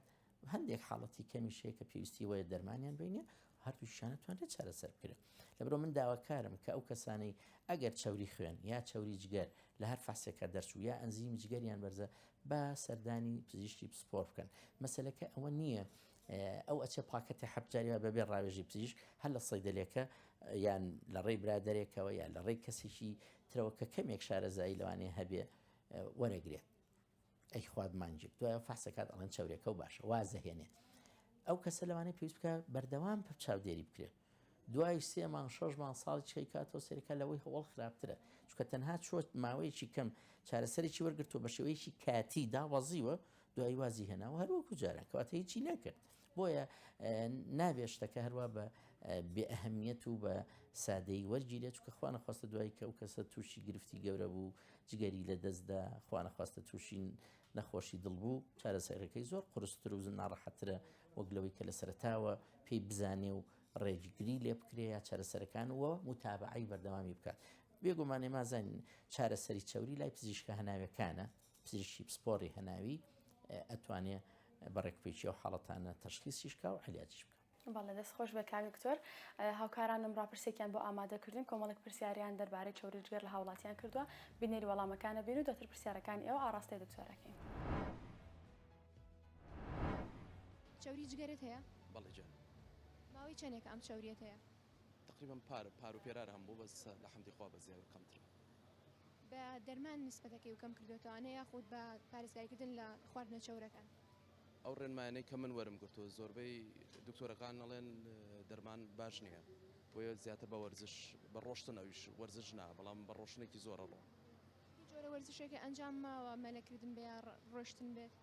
هەندێک حاڵەتی کەمیش هەیە کە پێویستی وایە دەرمانیان بینێ هەردووشانە توانێت چارەسەر بکرێت لەبرۆ من داواکارم کە ئەو کەسانەی ئەگەر چوری خوێن یا چوری جگەر لە هەر فاسێکە دەرچوو یا ئەنزیم جگەریان بەرزە با سەردانی پزیشتی پسپۆر بکەن مەسلەکە ئەوە نییە ئەو ئەچە پاکەتی حەبجاریوە بەبێ ڕاوێژی پزیشک هەر لە سەیدلەکە یان لە ڕێی برادێکەوە یان لە ڕێی کەسێکی ترەوە کە کەمێک شارەزایی لەوانێ هەبێ وەرەگرێت ئەی خوات مانجیک دوایە فەحسەکات ئەڵێن چەورێکە و باشە وازەهێنێ ئەو کەسە لەوانەیە پێویست بکە بەردەوام پپ چاودێری بکرێت دوای سێ مانگ شەش مانگ ساڵی چی کاتەوە سەرکە لەوەی هەوڵ خراپترە چکە تەنها چۆت ماوەیەکی کەم چارەسەرێکی وەرگرتو بە شێوەیەکی کاتی داوازیوە دوای وازی هێناوە هەروەکو جاران کەواتە هیچی نەکرد بۆیە نابێ شتەکە هەروە بە بێ ئەهمیەت و بە سادەی وەرگیرێت چکە خوانەخواستە دوای کە ئەو کەسە تووشی گرفتی گەورە بوو جگەری لە دەستدا خوانەخواستە تووشین نەخۆشی دڵ بوو چارەسەرەکەی زۆر قرستر و ناڕەحەترە وەک لەوەی کە لە سەرتاوە پێی بزانێ و ڕێژگری لێ بکرێ یا چارەسەرەکان وە متابعی بەردەوامی بکات بێگومانێ مازانین چارەسەری چوری لای پزیشکە هەناوەکانە پزیشکی پسپۆڕی هەناوی ئەتوانێ بە ڕێکپێکی ئەو حاڵەتانە تەشخیسیش کا و عەلیاجیش بکا. بەڵێ دەست خۆش بێ کاک دکتۆر هاوکارانم ڕاپرسێکیان بۆ ئامادە کردین کۆمەڵێک پرسیاریان دەربارەی چەوری جگەر لە هاوڵاتیان کردووە بینەری وەڵامەکانە بین و دەتر پرسیارەکانی ئێوە ئاڕاستەی دکتۆرەکەین چەوری جگەرت هەیە بەڵێ جان ماوەی چەندێک ئەم چەوریەت هەیە تقریبا پار پار و پێرار هەم بوو بەس لە حەمدی خوا بە زیاوی کەمترە بە دەرمان نیسبەتەکەی و کەم کردۆتەوانە یاخود بە پارێزگاری کردن لە خواردنە چەورەکان؟ ئەو ڕێنمایانەی کە من وەرم گرتووە زۆربەی دکتۆرەکان ئەڵێن دەرمان باش نییە بۆیە زیاتر بە وەرزش بە ڕۆشتن ئەویش وەرزش نا بەڵام بە ڕۆشنێکی زۆر ئەڕۆم. هیچ جۆرە وەرزشێکێ ئەنجام ماوە مەلە کردن بێ یا ڕۆشتن بێت؟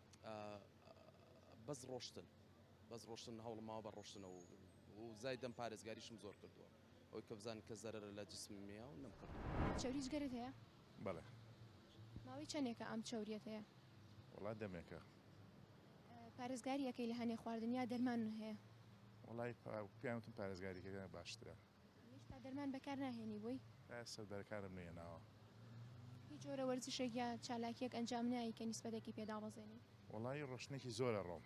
بەس ڕۆشتن بەس ڕۆشتن هەوڵم ماوە بە ڕۆشتنە و زایدەم پارێزگاریشم زۆر کردووە. ئەوەی کە بزانم کە زەرەرە لە جسمم هەیە و نەمکردووە. چەوری جگەرەت هەیە؟ بەڵێ. ماوەی چەندێکە ئەم چەوریەت هەیە؟ وەڵا دەمێکە. پارێزگاری ئەکەی لە هەنێ خواردن یا دەرمان هەیە؟ وەڵای پێیان وتم پارێزگاری کردن باشترە. هێشتا دەرمان بەکار ناهێنی بووی؟ سەردەرەکانم نەیەناوە. هیچ جۆرە وەرزشێک یا چالاکیەک ئەنجام نایی کە نیسبەتێکی پێ دابەزێنی؟ وەڵای ڕۆشتنێکی زۆرە ڕۆم.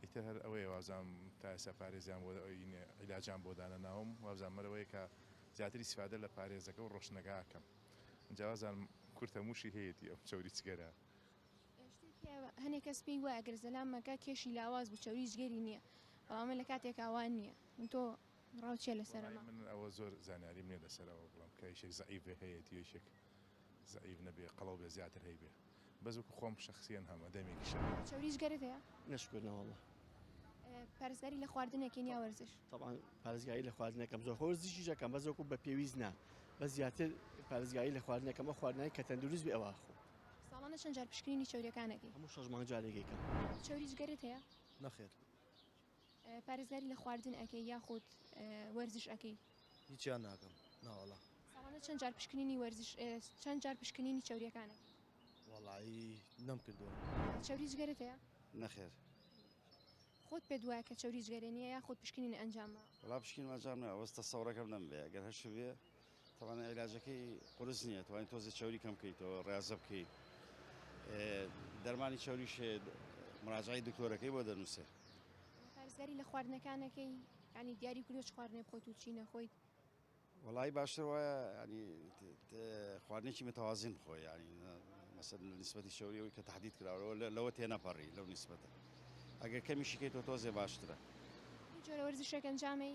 ئیتر هەر ئەوەیە وابزانم تا ئێستا پارێزیان بۆ عیلاجیان بۆ دانەناوم وابزانم هەر ئەوەیە کە زیاتر ئیسفادە لە پارێزەکە و ڕۆشنەگا ئەکەم ئینجا وازانم کورتە مووشی هەیەتی ئەو چەوری چگەرە هەنێک کەس پێی وایە گەر زەلامەکە کێشی لاواز بوو چەوری جگەری نییە بەڵام من لە کاتێک ئاوا نییە تۆ ڕاوچێ لەسەر من ئەوە زۆر زانیاریم نیە لەسەرەوە بڵم کە یشێک زعیڤێ هەیەتی یشێک زەعیف نەبێ قەڵەو بێ زیاتر هەیبێ بەس وەکو خۆم شەخسیەن هەمە دەمێکی شەر. چەوریش گەرت هەیە؟ نەشکور نەوەڵا. پارێزگاری لە خواردن ئەکەین یا وەرزش؟ طبعا پارێزگاری لە خواردن ئەکەم زۆر وەرزشیش ئەکەم بەس وەکو بە پێویست نا بەس زیاتر پارێزگاری لە خواردن ئەکەم ئەو خواردنانەی کە تەندروست بێ ئەوا ئەخۆم. ساڵانە چەند جار پشکنینی چەورییەکان ئەکەی؟ هەموو شەش مانگ جارێک ئەیکەم. چەوریش گەرت هەیە؟ نەخێر. پارێزگاری لە خواردن ئەکەی یاخود وەرزش ئەکەی؟ هیچیان ناکەم ناوەڵا. ساڵانە چەند جار پشکنینی وەرزش چەند جار پشکنینی چەوریەکان ئەکەی؟ وەڵایی نەم کردوە. چەوری جگەرەت هەیە؟ نەخێر. خۆت پێت وایە کە چەوری جگەرە نیە یاخود پشکنینە ئەنجام ماوە؟ وەڵا پشکنینم ئەنجام ناوە بەس تەسەوڕەکەم نەم بێ گەر هەشبێ. تەبعەن عیلاجەکەی قورس نیە توانی تۆزێ چەوری کەم کەیتەوە ڕازە بکەی دەرمانی چەوری شێ مراجعی دکتۆرەکەی بۆ دەنووسێ پارێزگاری لە خواردنەکانەکەی ینی دیاری کردو چ خواردنێ بخۆیت و چی نەخۆیت وڵی باشتر وایە ینی خواردنێکی متوازین بخۆ ینی مەسەر لە نسبەتی شەوریەوەی کە تهدید کراوەوە لەوە تێنەپەڕی لەو نسبەتە ئەگەر کەمیشیکەیت تۆ تۆزێ باشترە جۆرە وەرزشێک ئەنجامی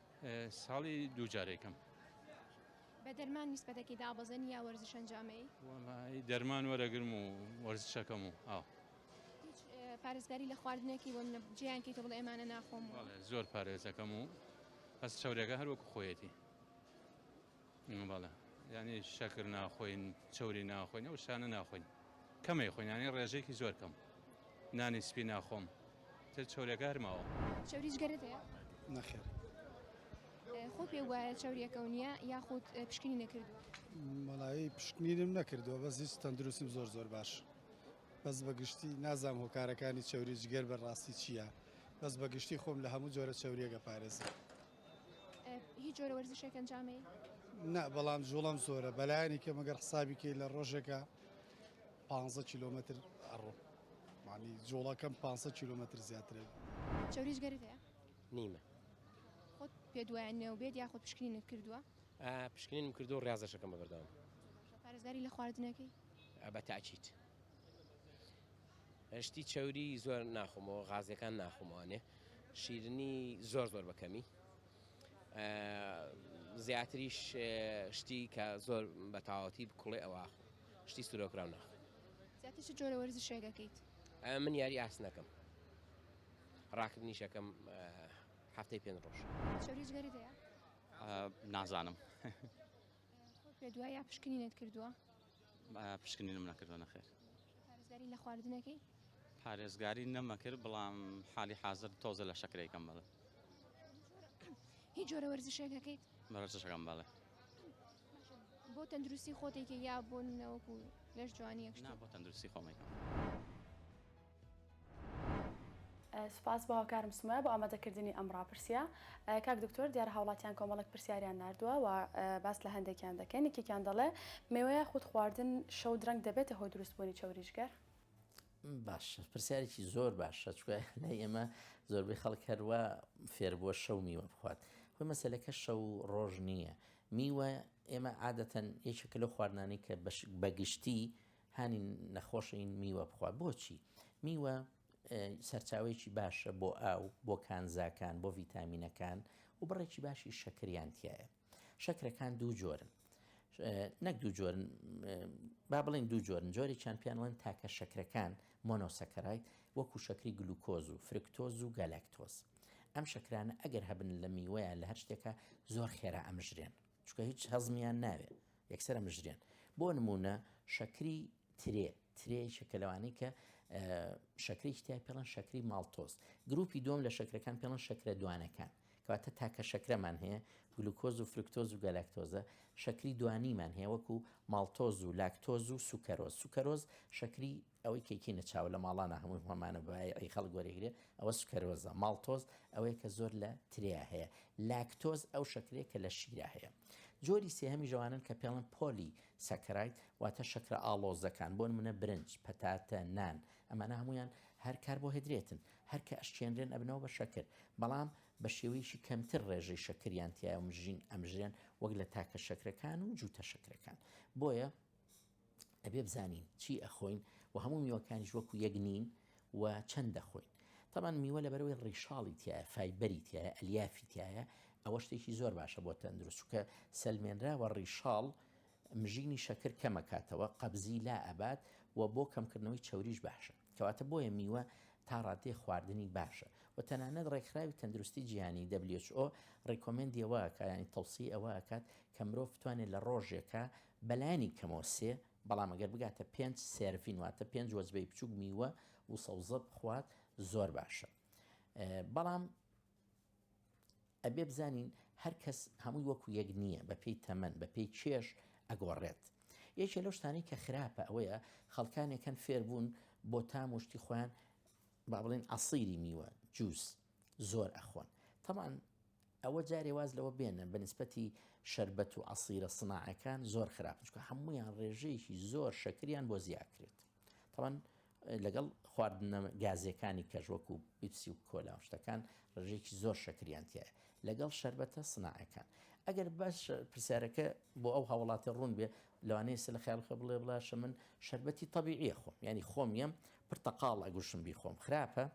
ساڵی دوو جارێ کەم. بە دەرمان نیسبەتەکی دابەزێنی یا وەرزش ئەنجامەی؟ وەڵایی دەرمان وەرەگرم و وەرزشەکەم و ئاو. هیچ اه، پارێزگاری لە خواردنێکی وە منە جێیان کەیتە بڵێ ئەمانە ناخۆم و بەڵێ زۆر پارێزەکەم و بەس چەورێکە هەر وەکو خۆیەتی. بەڵێ یانی شەکر ناخۆین چوری ناخۆین ئەو شانە ناخۆین کەمەی خۆینانی ڕێژێکی زۆر کەم نانی سپی ناخۆم تر چورەکە هەرماوە چوریش گەرێت نەخێر خۆ پێ وایە چاوریەکە و نییە یاخود پشکنی نەکرد مەڵایی پشکنیرم نەکردووە بەس هیچ تەندروستیم زۆر زۆر باش بەس بەگشتی نازام هۆکارەکانی چاوری جگەر بەڕاستی چییە بەس بەگشتی خۆم لە هەموو جۆرە چاوریەکە پارێزم هیچ جۆرە وەرزشێک ئەنجامەی؟ نا بەڵام جوڵەم زۆرە بەلایانی کە مەگەر حسابی کەی لە ڕۆژێکە 15 کیلومتر ئەڕۆ معنی جوڵەکەم 500 کیلومتر زیاترە چوریش گەرت هەیە؟ نیمە خۆت پێ دوایە نێو بێت یاخۆ پشکنین کردووە؟ پشکنینم کردو ڕاستەکەم بەبەردەوام پارێزگاری لە خواردنەکەی؟ بە تاکیت. شتی چەوری زۆر ناخۆمەوە غازیەکان ناخۆمەوانێ شیرنی زۆر زۆر بەکەمی زیاتریش شتی کە زۆر بە تاوەتی بکڵێ ئەوە شتی سرۆکراو ناخ زیاتر چ جۆرە وەرزی شێگەکەیت من یاری ئاس نەکەم ڕاکردنیشەکەم هەفتەی پێ ڕۆژ چۆریگەری دەیە نازانم دوای یا پشکنینت کردووە پشکنینم نەکردوە نەخێر. پارێزگاری لە خواردنەکەی؟ پارێزگاری نەمەکرد بەڵام حالی حازر تۆزە لە شەکرەیکەم بەڵێ. هیچ جۆرە وەرزشێکەکەیت؟ وەرزشەکەم بەڵێ. بۆ تەندروستی خۆتێکی یا بۆ نەوەکو لەش جوانی یەکشنا بۆ تەندروستی خۆمەکەم. سوپاس بۆ هاوکارم سومە بۆ ئامادەکردنی ئەم ڕاپرسیە کاک دکتۆر دیارە هاوڵاتیان کۆمەڵک پرسیاریان نردووە و باس لە هەندێکیان دەکەن یەکێکیان دەڵێ مێوەیە خود خواردن شەو درەنگ دەبێتە هۆ دروستبوونی چاوریشگەر باش پرسیارێکی زۆر باشە چکە لە ئێمە زۆربەی خەڵک هەروە فێربووە شەو میوە بخوات خۆی مەسلەکە شەو ڕۆژ نییە میوە ئێمە عادەتەن یەکێک لەو خواردنانی کە بەگشتی هانی نەخۆش این میوە بخوا بۆچی؟ میوە سەرچاوەیەکی باشە بۆ ئاو بۆ کانزاکان بۆ ڤیتامینەکان و بڕێکی باشی شەکریان تایە شەکرەکان دوو جۆرن نەک دوو جۆرن با بڵین دوو جۆرن جۆری چەند پیانوان تاکە شەکرەکان مۆنۆسەکەرایت وەکو شەکری گلوکۆز و فرکتۆز و گەلەکتۆز ئەم شەکرانە ئەگەر هەبن لە میوەیە لە هەر شتێکە زۆر خێرا ئەمژرێن چونکە هیچ هەزمیان ناوێ یەکسەر ئەمژرێن بۆ نمونە شەکری ترێ ترێیشە کە لەوانەی کە شەکرێکی تای پێڵەن شەکری ماڵتۆز گروپی دوم لە شەکرەکان پێڵەن شەکرە دوانەکان کەواتە تاکە شەکرەمان هەیە گلوکۆز و فرکتۆز و گەلاکتۆزە شەکری دوانیمان هەیە وەکو ماڵتۆز و لاکتۆز و سوکەرۆز سوکەرۆز شەکری ئەوەی کەیکینە چاوە لە ماڵانە هەمووی هۆمانە بایعی خەڵک وەرێگرێ ئەوە سکەرۆزە ماڵتۆز ئەوەیە کە زۆر لە تریا هەیە لاکتۆز ئەو شەکرێک کە لە شیرا هەیە جۆری سێهەمی ژەوانن کە پێڵن پۆلی سەکرایت واتە شەکرە ئاڵۆزەکان بۆن منە برنج پەتاتە نان ئەمانە هەمویان هەر کار بۆ هدرێتن هەرکە ئەشچێنرێن ئەبنەوە بە شەکر بەڵام بە شێوەیەشی کەمتر ڕێژەی شەکریان تیاە مژین ئەمژێن وەک لە تاکە شەکرەکان و جووتە شەکرەکان بۆیە ئەبێ بزانین چی ئەخۆین و هەموو میوەکانیش وەکو یەک نین و چەند دەخۆین تەبان میوە لە بەرەوەی ڕیشاڵی تایە فایبەری تایە ئەلیافی تایە ئەوە شتێکی زۆر باشە بۆ تەندروستکە سەلمێنراوە ڕیشاڵ مژینی شەکر کەمەکاتەوە قەبزی لا ئەبات و بۆ کەمکردنەوەی چوریش باشە کەواتە بۆیە میوە تا ڕادێ خواردنی باشە و تەنانەت ڕێکخراوی تەندروستی جیهانی WHO ڕیکۆمنندیەوە کایانی تەوسی ئەوە ئەکات کە مرۆڤ بتوانێت لە ڕۆژێکە بەلانی کەمەوە سێ، بەڵام ئەگەر بگاتە پێنج سێرڤین واتە پێنج وەجبەی بچووک میوە وسەوزە بخوات زۆر باشە بەڵام ئەبێ بزانین هەر کەس هەمووی وەکو یەک نییە بە پێی تەمەن بە پێی چێش ئەگۆڕێت یەکێ لەو شتانی کە خراپە ئەوەیە خەڵکانێکەن فێربوون بۆ تام وشتی خۆیان با بڵێن ئەسیری میوە جووس زۆر ئەخۆن تەمان ئەوە جارێ واز لەوە بێنە بە نیسبەتی شەربەت و عەسیرە سناعەکان زۆر خراپن چونکە هەموویان ڕێژەیەکی زۆر شەکریان بۆ زیاکرێت تەوان لەگەڵ خواردنە گازیەکانی کەژ وەکو بیپسی و کۆلا شتەکان ڕژێکی زۆر شەکریانتیە لەگەڵ شربەتە سناعەکان ئەگەر باش پرسیارەکە بۆ ئەو هاوڵاتە ڕوون بێ لەوانەیە سە لە خیالخە بڵێ بڵاشە من شربەتی طببیعە خۆم ینی خۆم یەم پرتەقاڵ ئەگوشم بی خۆم خراپە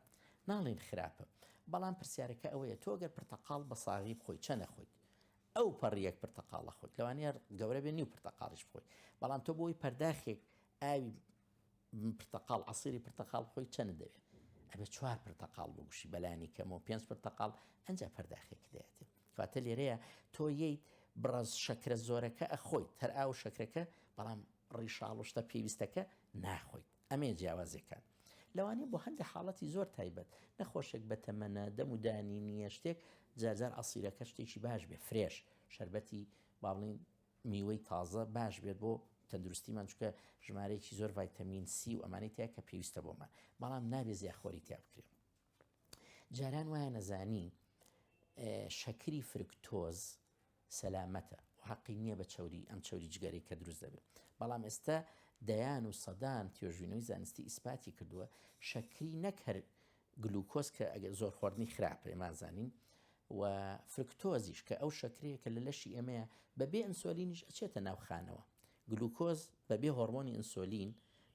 ناڵێین خراپە بەڵام پرسیارەکە ئەوەیە تۆ گەر پرتەقاڵ بە ساغی بخۆی چە نەخۆیت ئەو پەڕیەک پرتەقاڵە خۆت لەوانەیە گەورە بێ نیو پرتەقاڵش بخۆی بەڵام تۆ بۆی پەرداخێک ئاوی پرتەقاڵ عسیری پرتەقاڵ خۆی چەند دەوێت ئەبێ چوار پرتەقاڵ بگوشی بەلانی کەمەوە پێنج پرتەقاڵ ئەنج پەرداخێک دێت کاتە لێرەیە تۆ ییت بڕاز شەکرە زۆرەکە ئەخۆیت هەر ئاو شەکرەکە بەڵام ڕیشاڵشتە پێویستەکە ناخۆیت ئەمەیە جیاوازیەکان. لەوانەیە بۆ هەندێ حاڵەتی زۆر تایبەت، نەخۆشێک بە تەمەنە، دەم و دانی نییە، شتێک، جار جار عەسیرەکە شتێکی باش بێت، فرێش، شەربەتی با بڵێین میوەی تازە باش بێت بۆ تەندروستیمان، چونکە ژمارەیەکی زۆر ڤایتەمین سی و ئەمانەی تیایە کە پێویستە بۆمان، بەڵام نابێت زیاخۆری تیا بکرێت. جاران وایە نەزانین شەکری فرکتۆز، سەلامەتە و هەقی نییە بە چەوری ئەم چەوری جگەرەی کە دروست دەبێت بەڵام ئێستا دەیان و سەدان توێژینەوەی زانستی ئیسپاتی کردووە شەکری نەک هەر گلوکۆز کە ئەگەر زۆر خواردنی خراپە ئێمان زانین و فرکتۆزیش کە ئەو شەکرەیە کە لە لەشی ئێمەیە بەبێ ئەنسۆلینیش ئەچێتە ناو خانەوە گلوکۆز بەبێ هۆڕمۆنی ئەنسۆلین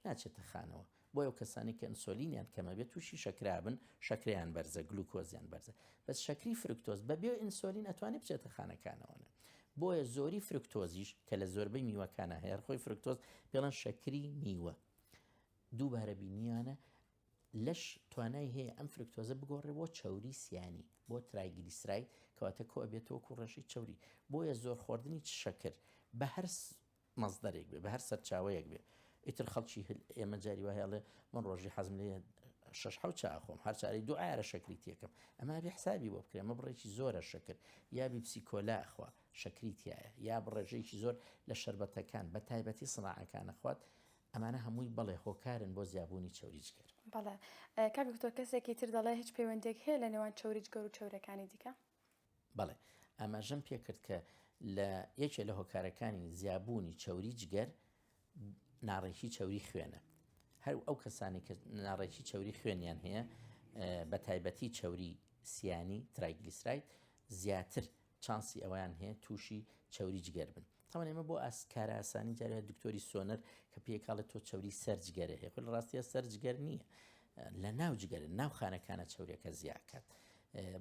ناچێتە خانەوە بۆیە ئەو کەسانەی کە ئەنسۆلینیان کەمە بێت تووشی شەکرابن شەکرەیان بەرزە گلوکۆزیان بەرزە بەس شەکری فرکتۆز بە بێ ئینسۆلین ئەتوانێت بچێتە خانەکانەوەە بۆیە زۆری فرکتۆزیش کە لە زۆربەی میوەکانە هەیە خۆی فرکتۆز پێڵەن شەکری میوە دووبارە بینیانە لەش توانای هەیە ئەم فرکتۆزە بگۆڕێ بۆ چاوری سیانی بۆ ترایگلیسرای کەواتە کۆ بێتەوە کوڕەشی چوری بۆیە زۆر خواردنی شەکر بە هەرس مەزدەرێک بێ بەهەر سەرچاوەیەک بێ ئیتر خەڵکی ئێمە جاری وایە ئەڵێ من ڕۆژی حەزم لێ شش حو چاخۆم هەر چاری دو ئارە شەکری تێکم ئەما بێ حسابی بۆ بکرێمە بڕێکی زۆرە شەکر یا بیپسی کۆلاخوا شەکری تایە یا بڕێژەیەکی زۆر لە شربەتەکان بە تایبەتی سناعەکانە خوات ئەمانە هەمووی بەڵێ هۆکارن بۆ زیابوونی چوریجگەر بەڵێ کاک دکتۆر کەسێکی تر دەڵێ هیچ پەیوەندێک هەیە لە نێوان چوریجگەر و چورەکانی دیکە بەڵێ ئاماژەم پێکرد کە لە یەکێ لە هۆکارەکانی زیابوونی چەوری جگەر ناڕێکی چەوری خوێنە هەر ئەو کەسانی کە ناڕێکی چەوری خوێنیان هەیە بە تایبەتی چەوری سیانی ترایگلیسرایت زیاتر چانسی ئەویان هەیە تووشی چەوری جگەر بن تاوەن ئێمە بۆ ئاس کارئاسانی جارێ دکتۆری سۆنەر کە پێکاڵێت تۆ چوری سەر جگەرە هەیە خۆی لە ڕاستیە سەر جگەر نییە لە ناو جگەرە ناو خانەکانە چورێکە زیاکات.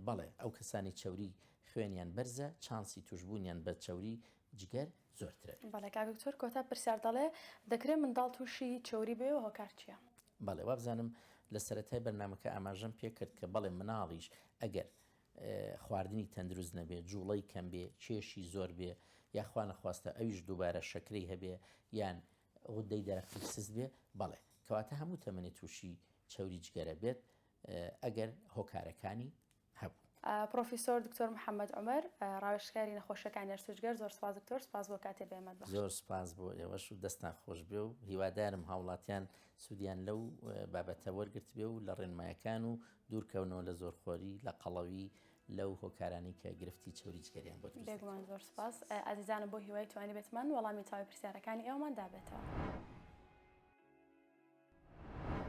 بەڵێ ئەو کەسانی چوری خوێنیان بەرزە چانسی توشببوونیان بە چوری جگەر زۆرترە بەڵێ کاکتۆر کۆتا پرسیار دەڵێ دەکرێت منداڵ تووشی چوری بێ و هۆکار چییە؟ بەڵێ وابزانم لە سەتای بەرنمەکە ئاماژەم پێکرد کە بەڵێ مناڵیش ئەگەر خواردنی تەندروست نەبێ، جوڵەی کەم بێ، کێشی زۆر بێ، یا خوا نەخواستە ئەویش دووبارە شەکرەی هەبێ یان غودەی دەرەقی سست بێ، بەڵێ کەواتە هەموو تەمەنێ تووشی چەوری جگەرە بێت ئەگەر هۆکارەکانی هەبوو. پڕۆفیسۆر دکتۆر محەممەد عومەر، ڕاوێژکاری نەخۆشییەکانی ئەرس و جگەر، زۆر سپاس دکتۆر، سپاس بۆ کاتێ بەێمەت بەخشت. زۆر سپاس بۆ ئێوەش و دەستتان خۆش بێ و هیوادارم هاوڵاتیان سوودیان لەو بابەتە وەرگرتبێ و لە ڕێنمایەکان و دوورکەونەوە لە زۆرخۆری، لە قەڵەوی، لەو هۆکارانەی کە گرفتی چەوری جگەریان بۆ دروست دەکات. بێگومان زۆر سوپاس. ئازیزانم بۆ هیوای توانیبێتمان وەڵامی تەواوی پرسیارەکانی ئێوەمان دابێتەوە.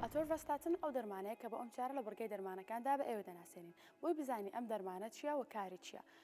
ئاتۆرڤاستاتن ئەو دەرمانەیە کە بۆ ئەم چارە لە بڕگەی دەرمانەکاندا بە ئێوە دەناسێنین بۆی بزانی ئەم دەرمانە چیە و کاری چیە.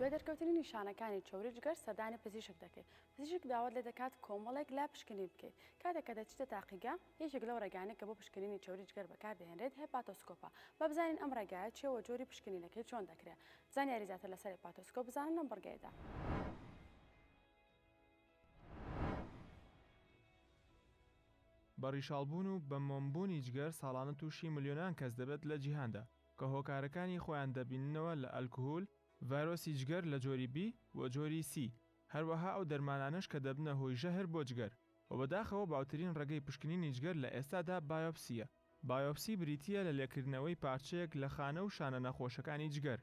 دوای دەرکەوتنی نیشانەکانی چەوری جگەر سەردانی پزیشک دەکەیت پزیشک داوات لێ دەکات کۆمەڵێک لا پشکنین بکەیت کاتێک کە دەچیتە تاقیگە یەکێک لەو ڕێگانەی کە بۆ پشکنینی چەوری جگەر بەکار دەهێنرێت هێپاتۆسکۆپە. با بزانین ئەم ڕێگایە چییە و جۆری پشکنینەکەی چۆن دەکرێت. زانیاری زیاتر لەسەر هێپاتۆسکۆپ بزانە لەم بڕگەیەدا. بە ڕیشاڵبوون و بە مۆم بوونی جگەر ساڵانە تووشی ملیۆنان کەس دەبێت لە جیهاندا، کە هۆکارەکانی خۆیان دەبیننەوە لە ئەلکهول، ڤایرۆسی جگەر لە جۆری بی و جۆری سی، هەروەها ئەو دەرمانانەش کە دەبنە هۆی ژەهر بۆ جگەر. وە بەداخەوە باوترین ڕێگەی پشکنینی جگەر لە ئێستادا بایۆپسییە. بایۆپسی بریتییە لە لێکردنەوەی پارچەیەک لە خانە و شانە نەخۆشەکانی جگەر.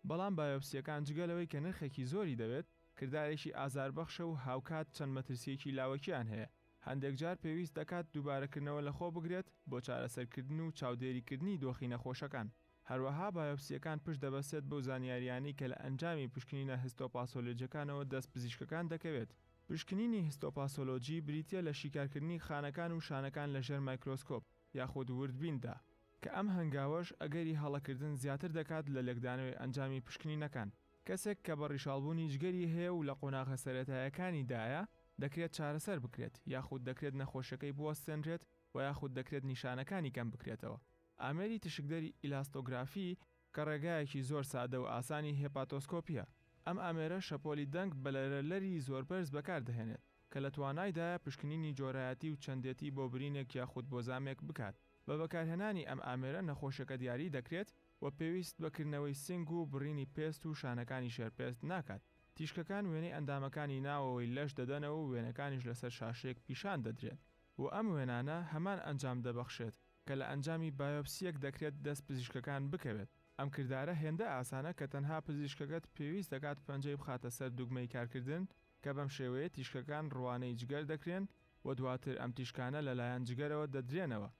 بەڵام بایۆپسییەکان جگە لەوەی کە نرخێکی زۆری دەوێت، کردارێکی ئازاربەخشە و هاوکات چەند مەترسییەکی لاوەکییان هەیە، هەندێک جار پێویست دەکات دووبارەکردنەوە لەخۆ بگرێت بۆ چارەسەرکردن و چاودێریکردنی دۆخی نەخۆشەکان. هەروەها بایۆپسییەکان پشت دەبەستێت بەو زانیارییانەی کە لە ئەنجامی پشکنینە هستۆپاسۆلۆجییەکانەوە دەست پزیشکەکان دەکەوێت. پشکنینی هستۆپاسۆلۆجی بریتییە لە شیکارکردنی خانەکان و شانەکان لە ژێر مایکرۆسکۆپ یاخود وردبیندا، کە ئەم هەنگاوەش ئەگەری هەڵەکردن زیاتر دەکات لە لێکدانەوەی ئەنجامی پشکنینەکان. کەسێک کە بە ڕیشاڵبوونی جگەری هەیە و لە قۆناغە سەرەتایەکانیدایە، دەکرێت چارەسەر بکرێت، یاخود دەکرێت نەخۆشییەکەی بوەستێنرێت و یاخود دەکرێت نیشانەکانی کەم بکرێتەوە، ئامێری تیشکدەری ئیلاستۆگرافی کە ڕێگایەکی زۆر سادە و ئاسانی هێپاتۆسکۆپییە. ئەم ئامێرە شەپۆلی دەنگ بە لەرەلەری زۆربەرز بەکاردەهێنێت، کە لە توانایدایە پشکنینی جۆرایەتی و چەندێتی بۆ برینێک یاخود بۆ زامێک بکات. بە بەکارهێنانی ئەم ئامێرە نەخۆشەکە دیاری دەکرێت و پێویست بە کردنەوەی سینگ و بڕینی پێست و شانەکانی ژێرپێست ناکات. تیشکەکان وێنەی ئەندامەکانی ناوەوەی لەش دەدەنەوە و وێنەکانیش لەسەر شاشەیەک پیشان دەدرێن و ئەم وێنانە هەمان ئەنجام دەبەخشێت کە لە ئەنجامی بایۆپسییەک دەکرێت دەست پزیشکەکان بکەوێت. ئەم کردارە هێندە ئاسانە کە تەنها پزیشکەکەت پێویست دەکات پەنجەی بخاتە سەر دوگمەی کارکردن کە بەم شێوەیە تیشکەکان ڕوانەی جگەر دەکرێن و دواتر ئەم تیشکانە لەلایەن جگەرەوە دەدرێنەوە.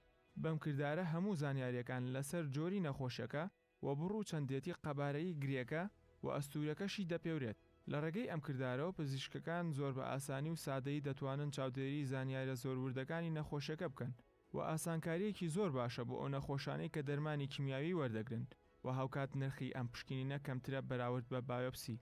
بەم کردارە هەموو زانیارییەکان لەسەر جۆری نەخۆشیەکە، و بڕو چەندێتی قەبارەیی گرێکە و ئەستوورەکەشی دەپێورێت. لە ڕێگەی ئەم کردارەوە پزیشکەکان زۆر بە ئاسانی و سادەیی دەتوانن چاودێریی زانیارە زۆر وردەکانی نەخۆشەکە بکەن و ئاسانکارییەکی زۆر باشە بۆ ئەو نەخۆشانەی کە دەرمانی کیمیاوی وەردەگرن و هاوکات نرخی ئەم پشکنینە کەمترە بەراورد بە بایۆپسی.